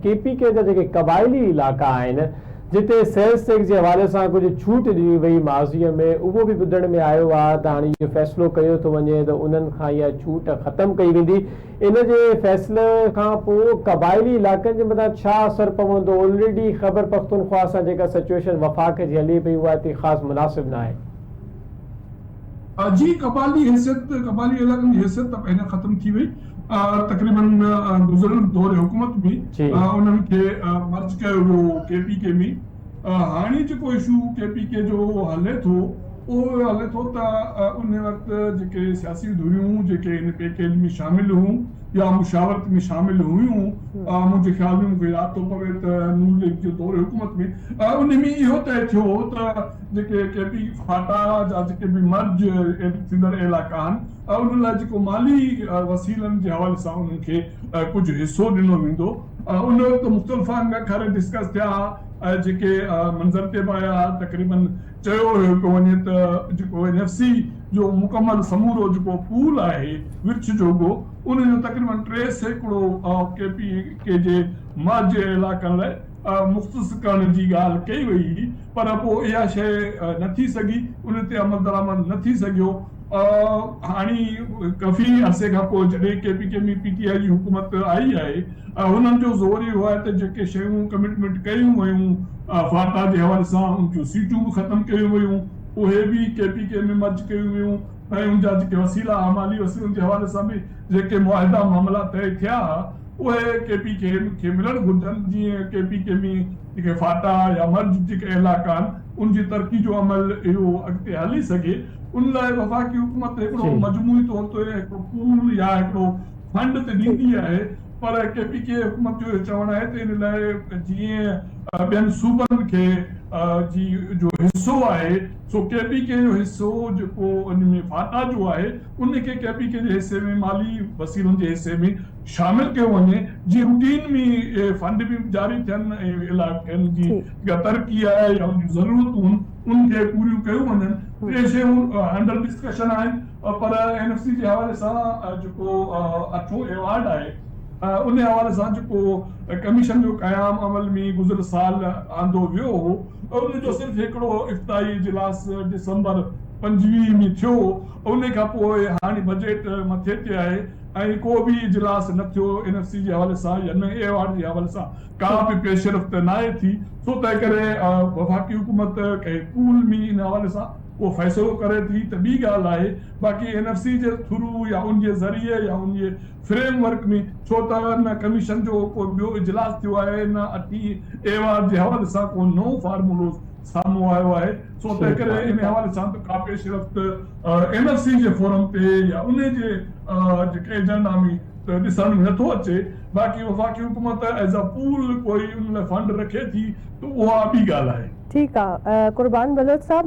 ڪي P K جا جيڪي قبائلي علائقا آهن جتي سيلز ٽيڪس جي حوالي سان ڪجهه ڇوٽ ڏني وئي ماضي ۾ اهو به ٻڌڻ ۾ آيو آهي ته هاڻي اهو فيصلو ڪيو ٿو وڃي ته انهن کان اها ڇوٽ ختم ڪئي ويندي ان جي فيصلي کان پوء قبائلي علائقن جي مٿان ڇا اثر پوندو الريڊي خيبر پختونخواهه سان جيڪا سچوئيشن وفاق جي هلي پئي اها اتي خاص مناسب ناهي. جي قبائلي حيثيت، قبائلي علائقن جي حيثيت ته پهريان ختم ٿي وئي، تقريباً گذريل دور حڪومت ۾ انهن کي مرج ڪيو ويو هو ڪي پي ڪي ۾، هاڻي جيڪو اشو ڪي پي ڪي جو هلي ٿو، اهو هلي ٿو ته ان وقت جيڪي سياسي ڌريون جيڪي هن پيڪيج ۾ شامل هيون يا مشاورت ۾ شامل هيون، منهنجي خيال ۾ مون کي ياد ٿو پوي ته نون ليگ جي دور حڪومت ۾ انهي ۾ اهو طئي ٿيو هو ته. جيڪي ڪي پي فاٽا جا جيڪي به مرج ٿيندڙ علائقا آهن انهن لاء جيڪو مالي وسيلن جي حوالي سان انهن کي ڪجهه حصو ڏنو ويندو ان وقت مختلف انگ کر ڊسڪس ٿيا ۽ جيڪي منظر تي به آيا تقريبن چيو ويو پيو وڃي ته جيڪو اين ايف سي جو مڪمل سمورو جيڪو پول آهي ورڇ جوڳو ان جو تقريبن ٽي سيڪڙو ڪي پي ڪي جي مرج علائقن لاء مختص ڪرڻ جي ڳالهه ڪئي وئي هئي پر پوء اها شيء نه ٿي سگهي، ان تي عملدرآمد نه ٿي سگهيو. هاڻي ڪفي عرصي کان پوء جڏهن ڪي پي ڪيم ۽ پي ٽي آء جي حڪومت آئي آهي، انهن جو زور اهو آهي ته جيڪي شيون ڪمٽمينٽ ڪيون ويون، فاٽا جي حوالي سان ان جون سيٽون به ختم ڪيون ويون، اهي به ڪي پي ڪي ۾ مرج ڪيون ويون ۽ ان جا جيڪي وسيلا، مالي وسيلن جي حوالي سان به جيڪي معاهدا معاملا طئي ٿيا، اهي ڪي پي ڪي کي ملڻ گهرجن جيئن ڪي پي ڪي ۾ جيڪي فاٽا يا مرج جيڪا علائقا آهن ان جي ترقي جو عمل اهو اڳتي هلي سگهي ان لاء وفاقي حڪومت هڪڙو مجموعي طور تي هڪڙو پول يا هڪڙو فنڊ ته ڏيندي آهي پر ڪي پي ڪي حڪومت جو اهو چوڻ آهي ته ان لاء جيئن ٻين صوبن کي جي جو حصو آهي سو ڪي پي ڪي جو حصو جيڪو ان ۾ فاٽا جو آهي ان کي ڪي پي ڪي جي حصي ۾ مالي وسيلن جي حصي ۾ شامل ڪيو وڃي جيئن روٽين ۾ اهي فنڊ به جاري ٿين ۽ علائقن جي جيڪا ترقي آهي يا ان جون ضرورتون ان کي پوريون ڪيون وڃن ٽي شيون انڊر ڊسڪشن آهن پر اين ايف سي جي حوالي سان جيڪو اٺون ايوارڊ آهي ان حوالي سان جيڪو ڪميشن جو قيام عمل ۾ گذريل سال آندو ويو هو ان جو صرف هڪڙو افتتاحي اجلاس ڊسمبر پنجويهه ۾ ٿيو ان کانپوء هاڻي بجيٽ مٿي تي آهي ۽ ڪو به اجلاس نه ٿيو اين ايف سي جي حوالي سان يا نه ايوارڊ جي حوالي سان ڪا به پيشرفت ناهي ٿي سو تنهن ڪري وفاقي حڪومت ڪنهن پول ۾ ان حوالي سان ڪو فيصلو ڪري ٿي ته ٻي ڳالهه آهي باقي اين ايف سي جي ٿرو يا ان جي ذريعي يا ان جي فريم ورڪ ۾ ڇو ته نه ڪميشن جو ڪو ٻيو اجلاس ٿيو آهي نه اٺين ايوارڊ جي حوالي سان ڪو نئون فارمولو سامهون آيو آهي، سو تنهنڪري انهي حوالي سان ته ڪا پيش رفت اين ايس سي جي فورم تي يا انهي جي جيڪي ايجنڊا ۾ ته ڏسڻ ۾ نٿو اچي، باقي وفاقي حڪومت ايز اي پول ڪوئي ان لاء فنڊ رکي ٿي ته اها ٻي ڳالهه آهي. ٺيڪ آ قربان بلوچ صاحب.